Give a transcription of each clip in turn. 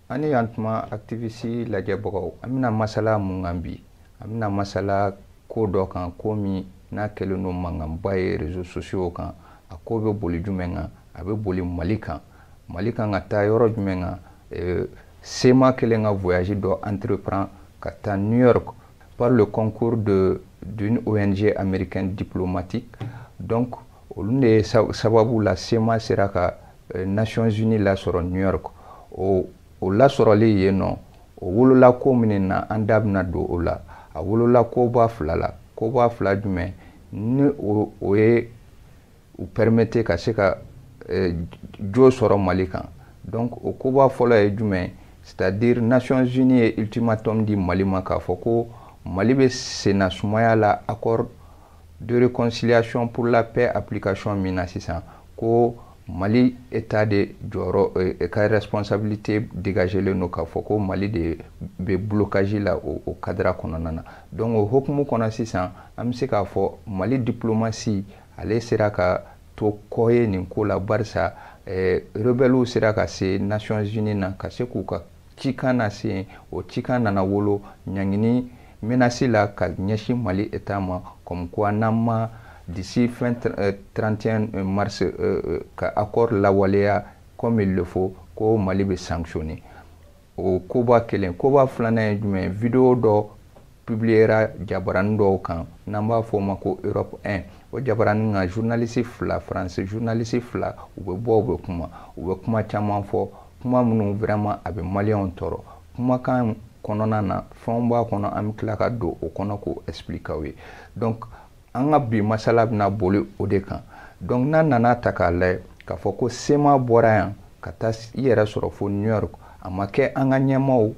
aw ni yan tuma activiste lajɛbagaw an bɛna masala mun kan bi an bɛna masala ko dɔ kan ko min n'a kɛlen don mankanba ye réseaux sociaux kan a ko bɛ boli jumɛn kan a bɛ boli mali kan mali kan ka taa yɔrɔ jumɛn kan eh, cma kɛlen ka voyage dɔ entreprend ka taa new york par le concours de d'une ong américaine diplomatique donc olu de sababu la cma sera ka eh, nations unies lasɔrɔ new york o o lasɔrɔli yen nɔ o wolola ko minnu na an da bɛna don o la a wolola koba fila la koba fila jumɛn ni o o ye u permettre ka se ka eh, jo sɔrɔ mali kan donc o koba fɔlɔ ye jumɛn c'est à dire nations unies ye ultimatum di mali ma k'a fɔ ko mali bɛ senna sumaya la accord de réconciliation pour la paix application min na sisan ko mali état de jɔyɔrɔ eh, eh, ka responsabilité dégagelen don k'a fɔ ko mali de bɛ blocage la o, o cadre kɔnɔna na donc o hokumu kɔnɔ sisan an bɛ se k'a fɔ mali diplomatie ale sera ka to kɔ ye nin ko la barisa eh, rebellew sera ka se nations unies na ka se k'u ka cikan lase yen o cikan nana wolo ɲangini menace la ka ɲɛsin mali état ma comme quoi n'an ma d'ici fin 31 euh, mars euh, euh, ka accord lawaleya comme il le faut ko mali bɛ sanctionner o koba kelen koba filanan ye jumɛn vidéo dɔ publiera jabarani dɔw kan n'an b'a fɔ o ma ko europe 1 o jabarani kan journaliste fila france journaliste fila u bɛ bɔ u bɛ kuma u bɛ kuma caman fɔ kuma minnu vraiment a bɛ maliyɛnw tɔɔrɔ kumakan kɔnɔna na fɛnw b'a kɔnɔ an bɛ tila ka don o kɔnɔ k'o explique aw ye donc an ka bi masala bɛna boli o de kan donc n'an nana ta k'a lajɛ k'a fɔ ko cma bɔra yan ka taa i yɛrɛ sɔrɔ fo new york a ma kɛ an ka ɲɛmaaw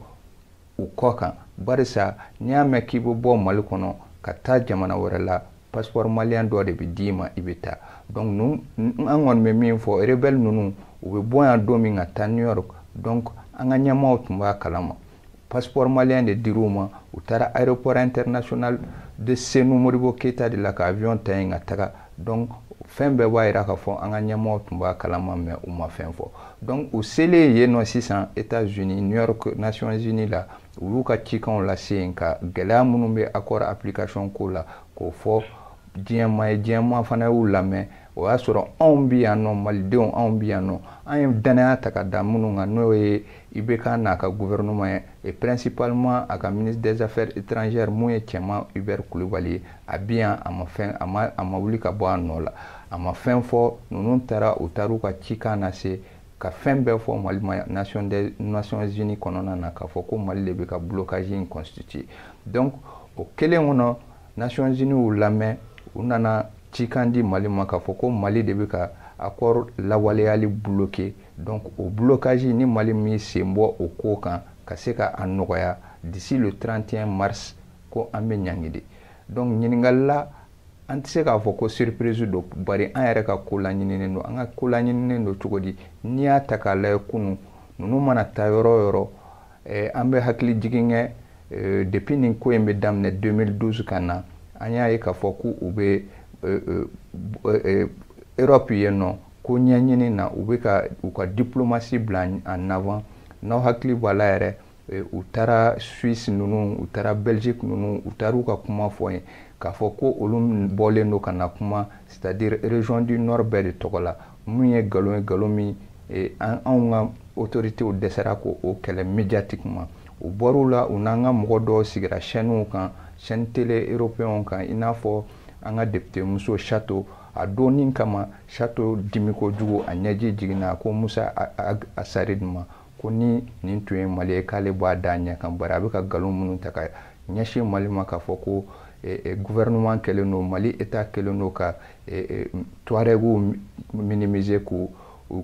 u kɔ kan barisa n'i y'a mɛn k'i bɛ bɔ mali kɔnɔ ka taa jamana wɛrɛ la passeport maliyɛn dɔ de bɛ d'i ma i bɛ taa donc nu an kɔni bɛ min fɔ rebelle ninnu u bɛ bɔ yan don min ka taa new york donc an ka ɲɛmaaw tun b'a kalama passeport maliyɛn de dir'u ma u taara aéroport international de senu modibo keyita de la ka avion ta yen ka taga donc fɛn bɛɛ b'a yira k'a fɔ an ka ɲɛmɔgɔw tun b'a kalama mais u ma fɛn fɔ donc u selen yen nɔ sisan états unis new york nations unies la u y'u ka cikanw lase yen ka gɛlɛya minnu bɛ accord application ko la k'o fɔ diɲɛmaa ye diɲɛmaa fana y'u lamɛn o y'a sɔrɔ anw bɛ yan nɔ malidenw anw bɛ yan nɔ an ye dannaya ta ka da minnu kan n'o ye ibk n'a ka gouvernement ye et principalement a ka ministre des affaires étrangères min ye cɛman hubert kulubali ye a bɛ yan a ma fɛn a ma a ma wuli ka bɔ a nɔ la a ma fɛn fɔ ninnu taara u taar'u ka cikan lase ka fɛn bɛɛ fɔ mali ma nation des nations unies kɔnɔna na k'a fɔ ko mali de bɛ ka blocage in constituer donc o kelen kɔnɔ nations unies y'u lamɛn u nana cikan di mali ma k'a fɔ ko mali de bɛ ka accord lawaleyali bloquer donc o blocage ni mali m'i sen bɔ o ko kan ka se ka a nɔgɔya d'ici le 31 mars ko an bɛ ɲangi de donc ɲininkali la an tɛ se k'a fɔ ko surprise don bari an yɛrɛ ka ko laɲininen don an ka ko laɲininen don cogo di n'i y'a ta k'a lajɛ kunu ninnu mana taa yɔrɔ o yɔrɔ eh, an bɛ hakili jigin kɛ eh, depuis nin ko in bɛ daminɛ 2012 ka na an y'a ye k'a fɔ k'u bɛ eh, eh, eh, Europe yen nɔ ko ɲɛɲini na u bɛ ka u ka diplomasi bila en avant n'aw hakili b'a la yɛrɛ Eh, u taara suisse ninnu u taara belgique ninnu u taar'u ka kuma fɔ yen k'a fɔ ko olu bɔlen don ka na kuma c'est à dire région du nord bɛɛ de tɔgɔ la min ye nkalon ye nkalon min eh, an anw ka autoritéw dɛsɛra k'o kɛlɛ médiatiquement u bɔr'u la u n'an ka mɔgɔ dɔw sigira chaînew kan chaîne télé européenw kan i n'a fɔ an ka député muso chato a dɔnni kama chato dimi kojugu a ɲɛji jiginna ko musa asarid ma ko ni nin tun ye mali ye k'ale b'a da ɲɛ kan bari a bɛ ka nkalon minnu ta ka ɲɛsin mali ma k'a fɔ ko eh, eh, gouvernement kɛlen don mali état kɛlen don ka eh, tuarɛgiw minimiser k'u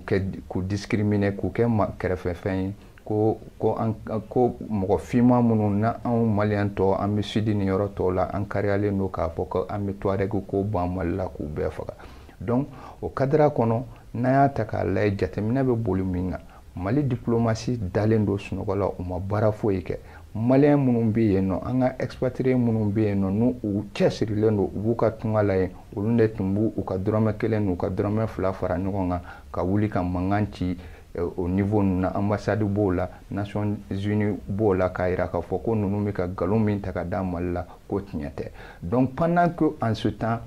kɛ k'u discriminer k'u kɛ kɛrɛfɛfɛn ye ko ko an ko mɔgɔ finman minnu na anw maliyɛn tɔ an bɛ sud ni yɔrɔ tɔw la an kariyalen don k'a fɔ ko an bɛ tuarɛgiw ko ban mali la k'u bɛɛ faga donc o cadre kɔnɔ n'an y'a ta k'a layɛ jateminɛ bɛ boli min kan mali diplomasi dalen don sunɔgɔ la u ma baara foyi kɛ maliyɛn minnu bɛ yen nɔ an ka expatrié minnu bɛ yen nɔ n'u cɛsirilen don u b'u ka tunga la yen olu de tun b'u ka dɔrɔmɛ kelen n'u ka dɔrɔmɛ fila fara ɲɔgɔn kan ka wuli ka mankan ci eh, o niveau ninnu na ambassade b'o la nations unies b'o la k'a yira k'a fɔ ko ninnu bɛ ka nkalon min ta ka da mali la ko tiɲɛ tɛ donc pendant que en ce temps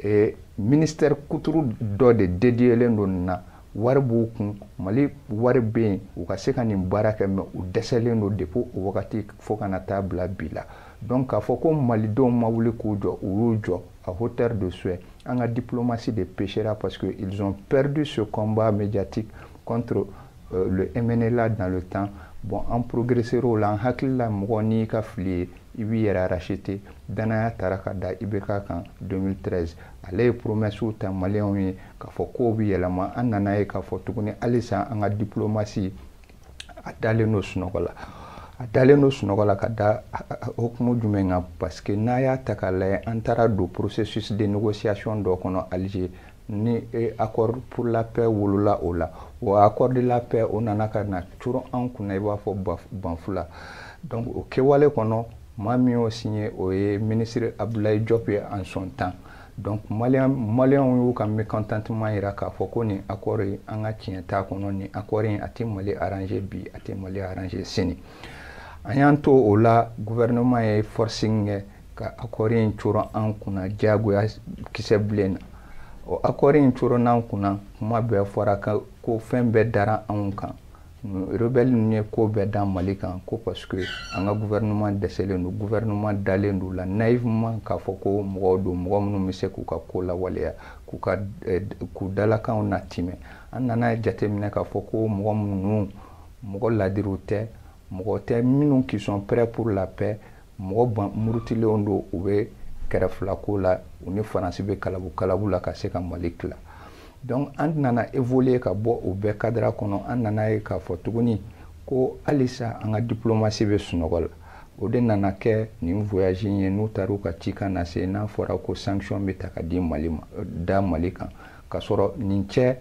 eh, ministère kuturu dɔ de dédiélen don nin na wari b'u kun mali wari bɛ yen u ka se ka nin baara kɛ mais u dɛsɛlen don depuis o wagati fo ka na taa bila bi la donc k'a fɔ ko malidenw ma wuli k'u jɔ u y'u jɔ à hauteur de souhait an ka diplomasi de péchéra parce que ils ont perdu ce combat médiatique contre euh, le MNLA dans le temps bon an progressér'o la an hakili la mɔgɔ n'i ka fili ye i b'i yɛrɛ racheter danaya tara ka da IBK kan 2013 ale ye promessew ta maliyɛnw ye k'a fɔ kow bɛ yɛlɛma an nana ye k'a fɔ tuguni halisa an ka diplomatie a dalen don sunɔgɔ la a dalen don sunɔgɔ la ka da hukumu jumɛn kan parce que n'a y'a ta k'a lajɛ an taara don processus de négociation dɔ kɔnɔ Alger ni e accord pour la paix wolola o la o accord de la paix o nana ka na coron an kunna i b'a fɔ banfula donc o kɛwale kɔnɔ maa min y'o signé o ye ministre Abdoulaye Diop ye en son temps donc maliyɛn maliyɛnw y'u ka mécontentement jira k'a fɔ ko nin accord in an ka tiɲɛ t'a kɔnɔ nin accord in a tɛ mali arranger bi a tɛ mali arranger sini an y'an to o la gouvernement ye forcing kɛ ka accord in coron an kunna diyagoya kisɛ bilen na o accord in coronnen an kunna kuma bɛɛ fɔra ko fɛn bɛɛ dara anw kan rebelle ninnu ye ko bɛɛ da mali kan ko parce que an ka gouvernement dɛsɛlen don gouvernement dalen don la naïvement k'a fɔ ko mɔgɔw don mɔgɔ minnu bɛ se k'u ka ko lawaleya k'u ka eh, k'u dalakanw natimɛ an nana jateminɛ k'a fɔ ko mɔgɔ minnu mɔgɔ ladiriw tɛ mɔgɔ tɛ minnu qui sont prêts pour la paix mɔgɔ ban murutilenw don u bɛ kɛrɛfilako la u ni faransi bɛ kalabu kalabu la ka se ka mali tila donc an nana évoluer ka bɔ o bɛɛ cadre kɔnɔ an nana ye k'a fɔ tuguni ko halisa an ka diplomatie bɛ sunɔgɔ la o de nana kɛ nin voyage in ye n'u taara u ka cikan nase n'a fɔra ko sanction bɛ ta ka di mali ma da mali kan ka sɔrɔ nin cɛ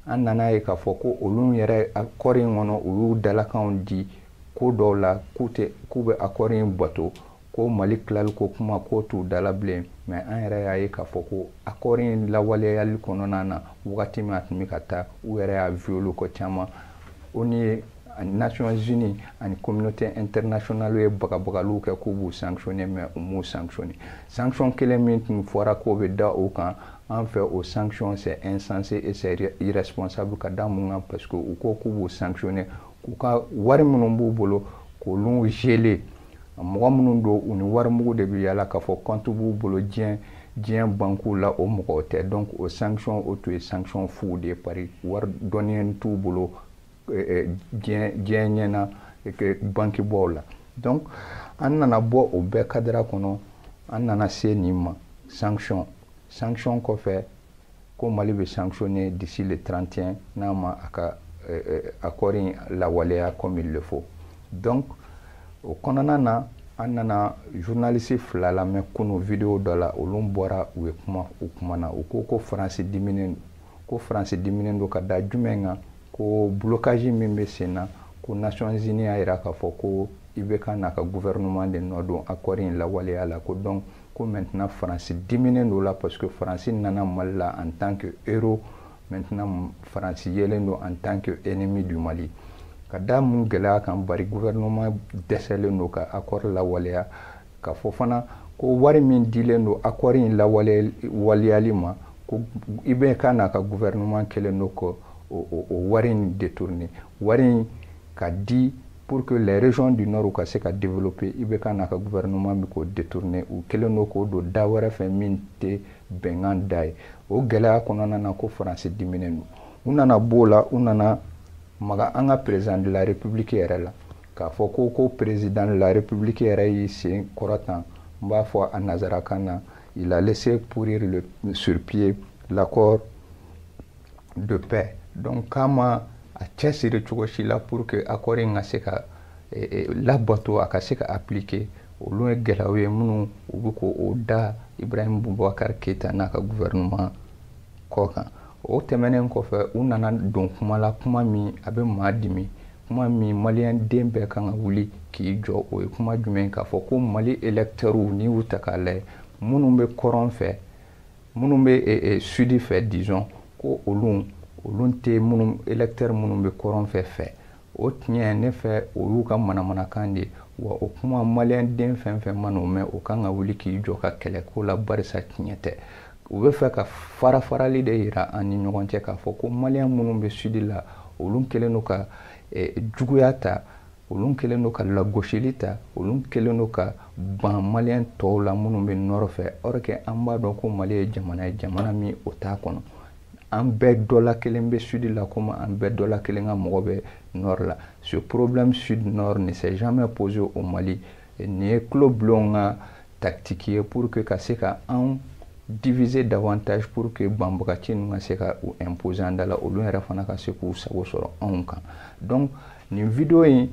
an nana ye k'a fɔ ko olu yɛrɛ accord in kɔnɔ u y'u dalakanw di ko dɔw la k'u tɛ k'u bɛ accord in bato ko mali tilali ko kuma ko t'u da la bilen mais an yɛrɛ y'a ye k'a fɔ ko accord in lawaleyali kɔnɔna na wagati min a tun bɛ ka taa u yɛrɛ y'a violer ko caman ONU ye ani nations unies ani communauté internationale ye bagabagaliw kɛ k'u b'u sanctionner mais u m'u sanctionner sanction kelen min tun fɔra k'o bɛ da u kan en fait o sanction c'est insensé et c'est irresponsable ka da mun kan parce que u ko k'u b'u sanctionner k'u ka wari minnu b'u bolo k'olu geler mɔgɔ minnu don u ni warimugu de bɛ yala k'a fɔ compte b'u bolo diɲɛ diɲɛ bankiw la o mɔgɔw tɛ donc o sanction o tun ye sanction fu de ye pari wari dɔnniya t'u bolo diɲɛ diɲɛ ɲɛ na bankibaw la donc an nana bɔ o bɛɛ cadre kɔnɔ an nana se nin ma sanction sanction kɔfɛ ko mali bɛ sanctionner d'ici le 31 n'a ma a ka euh, euh, accord in lawaleya comme il le faut donc o kɔnɔna na an nana journaliste fila lamɛn kunu vidéo dɔ la olu bɔra u ye kuma u kumana u ko ko faransi diminen don ko faransi diminen don ka da jumɛn kan ko blocage min bɛ sen na ko nations unies y'a jira k'a fɔ ko IBK n'a ka gouvernement de nɔ don accord in lawaleya la ko donc ko maintenant faransi diminen don la parce que faransi nana mali la en tant que héros maintenant faransi yelen don en tant que ennemi du mali ka da mun gɛlɛya kan bari gouvernement dɛsɛlen don ka accord lawaleya ka fɔ fana ko wari min dilen don accord in lawaleyali ma ko IBK n'a ka gouvernement kɛlen don k'o wari in détourner wari in ka di pour que les régions du nord ka se ka développer IBK n'a ka gouvernement bɛ k'o détourner u kɛlen don k'o don da wɛrɛ fɛ min tɛ bɛnkan da ye o gɛlɛya kɔnɔna na ko faransi diminen don u nana b'o la u nana maga an ka président de la république yɛrɛ la k'a fɔ ko ko président de la république yɛrɛ y'i sen kɔrɔtan n b'a fɔ a nazarakan na il a laissé pourrir le, sur pied l'accord de paix donc k'a ma a cɛsiri cogo si la pour que accord in ka se ka eh, eh, labato a ka se ka appliquer olu ye gɛlɛyaw ye minnu u bɛ k'o da ibrahim bubakar keyita n'a ka gouvernement kɔ kan o tɛmɛnen kɔfɛ u nana don kuma la kuma min a bɛ maa dimi kuma min maliyɛn den bɛɛ kan ka wuli k'i jɔ o ye kuma jumɛn k'a fɔ ko mali électeurs n'i y'u ta k'a lajɛ minnu bɛ kɔrɔn fɛ minnu bɛ eh, eh, sudi fɛ disons ko olu olu tɛ minnu électeur minnu bɛ kɔrɔn fɛ fɛ o tiɲɛ ne fɛ o y'u ka manamanakan de ye wa o kuma maliyɛn den fɛn fɛn man'o mɛn o kan ka wuli k'i jɔ ka kɛlɛ k'o la barisa tiɲɛ tɛ u bɛ fɛ ka farafarali de yira an ni ɲɔgɔn cɛ k'a fɔ ko maliyɛn minnu bɛ sudi la olu kɛlen don ka eh, juguya ta olu kɛlen don ka lagosili ta olu kɛlen don ka ban maliyɛn tɔw la minnu bɛ nord fɛ or que an b'a dɔn ko mali ye jamana ye jamana min o t'a kɔnɔ an bɛɛ dɔ la kelen bɛ sud la komi an bɛɛ dɔ la kelen ka mɔgɔ bɛ nord la ce problème sud nord ne s'est jamais posé au mali nin ye tulobilen ka tactique ye pour que ka se ka anw diviser davantage pour que banbagaci ninnu ka se ka u imposer an da la olu yɛrɛ fana ka se k'u sago sɔrɔ anw kan donc nin vidéo in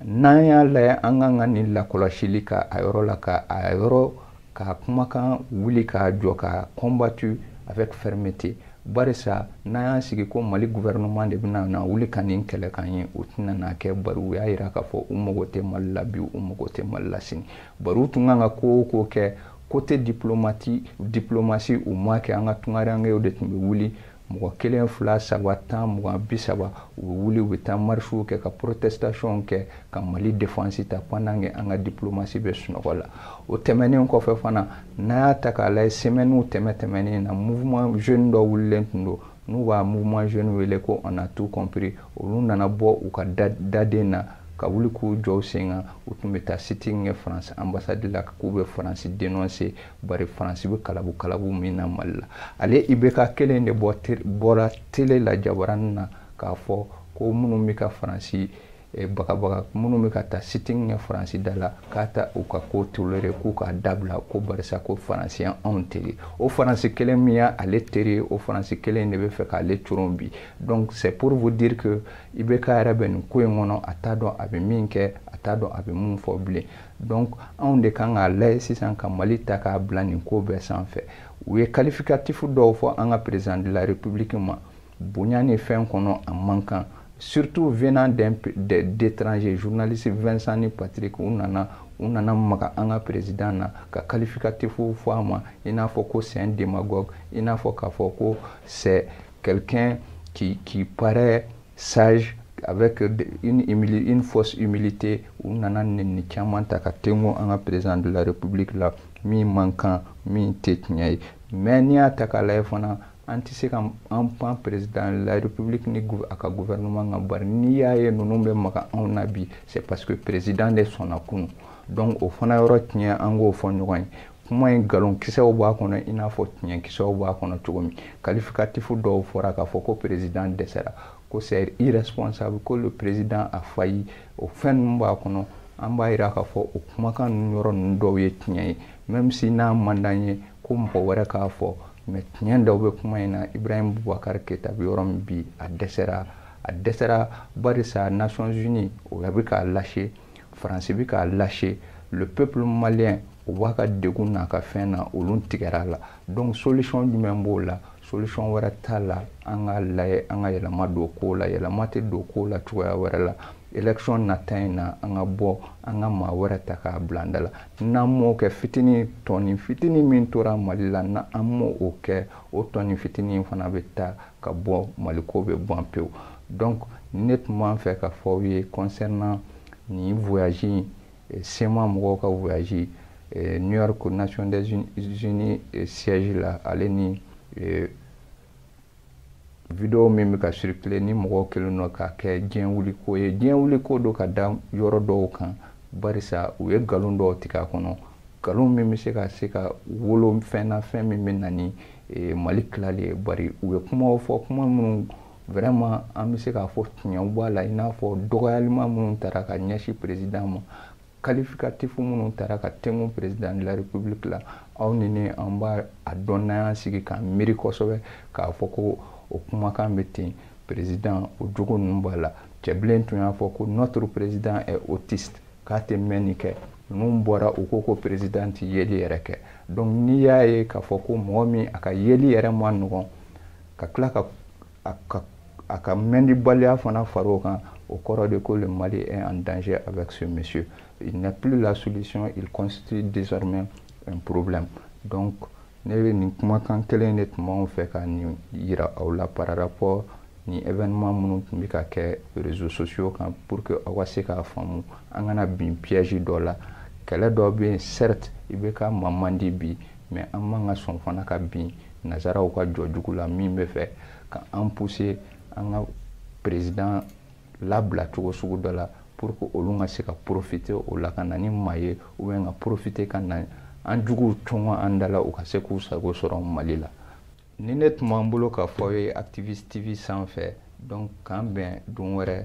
n'an y'a lajɛ an kan ka nin lakɔlɔsili ka a yɔrɔ la ka a yɔrɔ k'a kumakan wuli k'a jɔ ka combattu avec fermeté barisa n'an y'an sigi ko mali gouvernement de bɛna na wuli ka nin kɛlɛ k'an ye o tɛna n'a kɛ bari u y'a yira k'a fɔ u mago tɛ mali la bi u mago tɛ mali la sini bari u tun kan ka ko o ko kɛ côté diplomati diplomatie u m'a kɛ an ka tungarankew de tun bɛ wuli mɔgɔ kelen fila saba tan mugan bi saba u bɛ wuli u bɛ taa marisiw kɛ ka protestation kɛ ka mali defansi ta pendant que an ka diplomasi bɛ sunɔgɔ la o tɛmɛnen kɔfɛ fana n'a y'a ta k'a lajɛ semɛni tɛmɛ tɛmɛnen na mouvement jeune dɔ wulilen tun don n'u b'a mouvement jeune wele ko on a tout compris olu nana bɔ u ka daden na ka wuli k'u jɔ u sen kan u tun bɛ taa sitting kɛ faransi ambassade la k'u bɛ faransi denonse bari faransi bɛ kalabu kalabu min na mali la ale IBK kelen de bɔra tele la jabaranin na k'a fɔ ko minnu bɛ ka faransi eh, bagabaga minnu bɛ ka taa sitting kɛ faransi da la k'a tɛ u ka ko tolere k'u k'a dabila ko barisa ko faransi ye anw teri o faransi kelen min ye ale teri o faransi kelen de bɛ fɛ k'ale coron bi donc c'est pour vous dire que IBK yɛrɛ bɛ nin ko in kɔnɔ a t'a dɔn a bɛ min kɛ a t'a dɔn a bɛ mun fɔ bilen donc anw de kan k'a layɛ sisan ka mali ta k'a bila nin ko bɛɛ sanfɛ u ye kalifikatifu dɔw fɔ an ka perezidan de la republiki ma bonya ni fɛn kɔnɔ a man kan surtout venant d'étrangers journaliste vincent ni patrick u nana u nana maga an ka perezidan na ka kalifikatifu fɔ a ma i n'a fɔ ko c'est un démagogue i n'a fɔ k'a fɔ ko c'est quelqu'un qui, qui paraît sage avec une, une fausse humilité u nana nɛni caman ta ka tengo an ka président de la république la min man kan min tɛ tiɲɛ ye mais n'i y'a ta k'a lajɛ fana an tɛ se ka an pan président de la république ni a ka gouvernement kan bari n'i y'a ye ninnu bɛ maga anw na bi c'est parce que président de sɔnna kunun donc o fana yɔrɔ tiɲɛ an k'o fɔ ɲɔgɔn ye kuma in nkalonkisɛw b'a kɔnɔ i n'a fɔ tiɲɛkisɛw b'a kɔnɔ cogo min kalifikatifu dɔw fɔra k'a fɔ ko perezidan dɛsɛra ko c'est irresponsable ko le président a failli o fɛn ninnu b'a kɔnɔ an b'a yira k'a fɔ o kumakan ninnu yɔrɔ ninnu dɔw ye tiɲɛ ye même si n'a man d'an ye ko mɔgɔ wɛrɛ k'a fɔ mais tiɲɛ dɔw bɛ kuma in na ibrahim bubakar keyita bɛ yɔrɔ min bi a dɛsɛra a dɛsɛra barisa nations unies o bɛ k'a lâcher faransi bɛ k'a lâcher le peuple malien o b'a ka degun n'a ka fɛn na olu tigɛra a la donc solution jumɛn b'o la solution wɛrɛ t'a la an ka layɛ an ka yɛlɛma don ko la yɛlɛma tɛ don ko la cogoya wɛrɛ la election nata in na an ka bɔ an ka maa wɛrɛ ta k'a bila an da la n'an m'o kɛ fitini tɔni fitini min tora mali la n'an m'o kɛ o tɔni fitini fana bɛ taa ka bɔ mali ko bɛ ban pewu donc ne tun b'a fɛ k'a fɔ aw ye concernant nin voyage in eh, sema mɔgɔw ka voyage eh, new york nation des unis eh, siège la ale ni video min bɛ ka circuler ni mɔgɔw kɛlen don k'a kɛ diɲɛ wuli ko ye diɲɛ wuli ko don ka da yɔrɔ dɔw kan barisa u ye nkalon dɔw tigɛ a kɔnɔ nkalon min bɛ se ka se ka wolo fɛn na fɛn min bɛ na ni ee, mali tilali ye bari u ye kumaw fɔ kuma minnu vraiment an bɛ se k'a fɔ tiɲɛw b'a la i n'a fɔ dɔgɔyalima minnu tara ka ɲɛsin président ma qualificatif minnu tara ka tengu président de la république la aw ni ne an b'a dɔn n'an y'an sigi k'an miiri kosɛbɛ k'a fɔ ko o kumakan bɛ ten président o jogo ninnu b'a la cɛbilen tun y'a fɔ ko notre président est autiste k'a tɛ mɛnni kɛ ninnu bɔra u ko ko président tɛ yeli yɛrɛ kɛ donc n'i y'a ye k'a fɔ ko mɔgɔ min a ka yeli yɛrɛ ma nɔgɔn ka tila ka a ka mɛndibaliya fana fara o kan o kɔrɔ de ko le mali est en danger avec ce monsieur il n'est plus la solution il constitue désormais un problème donc ne bɛ nin kumakan kelen de tun b'anw fɛ ka nin yira aw la par rapport nin événement minnu tun bɛ ka kɛ réseaux sociaux kan pour que aw ka se k'a faamu an kana bin piège dɔ la kɛlɛ dɔ bɛ yen certes IBK ma man di bi mais an man ka sɔn fana ka bin nazaraw ka jɔ jugu la min bɛ fɛ ka an pousser an ka président labila cogo sugu dɔ la pour que olu ka se ka profiter o la ka na ni maa ye ou bien ka profiter ka na an juguw cɔngɔ an da la u ka se k'u sago sɔrɔ mali la nin de tun b'an bolo k'a fɔ aw ye activiste tv sanfɛ donc k'an bɛn don wɛrɛ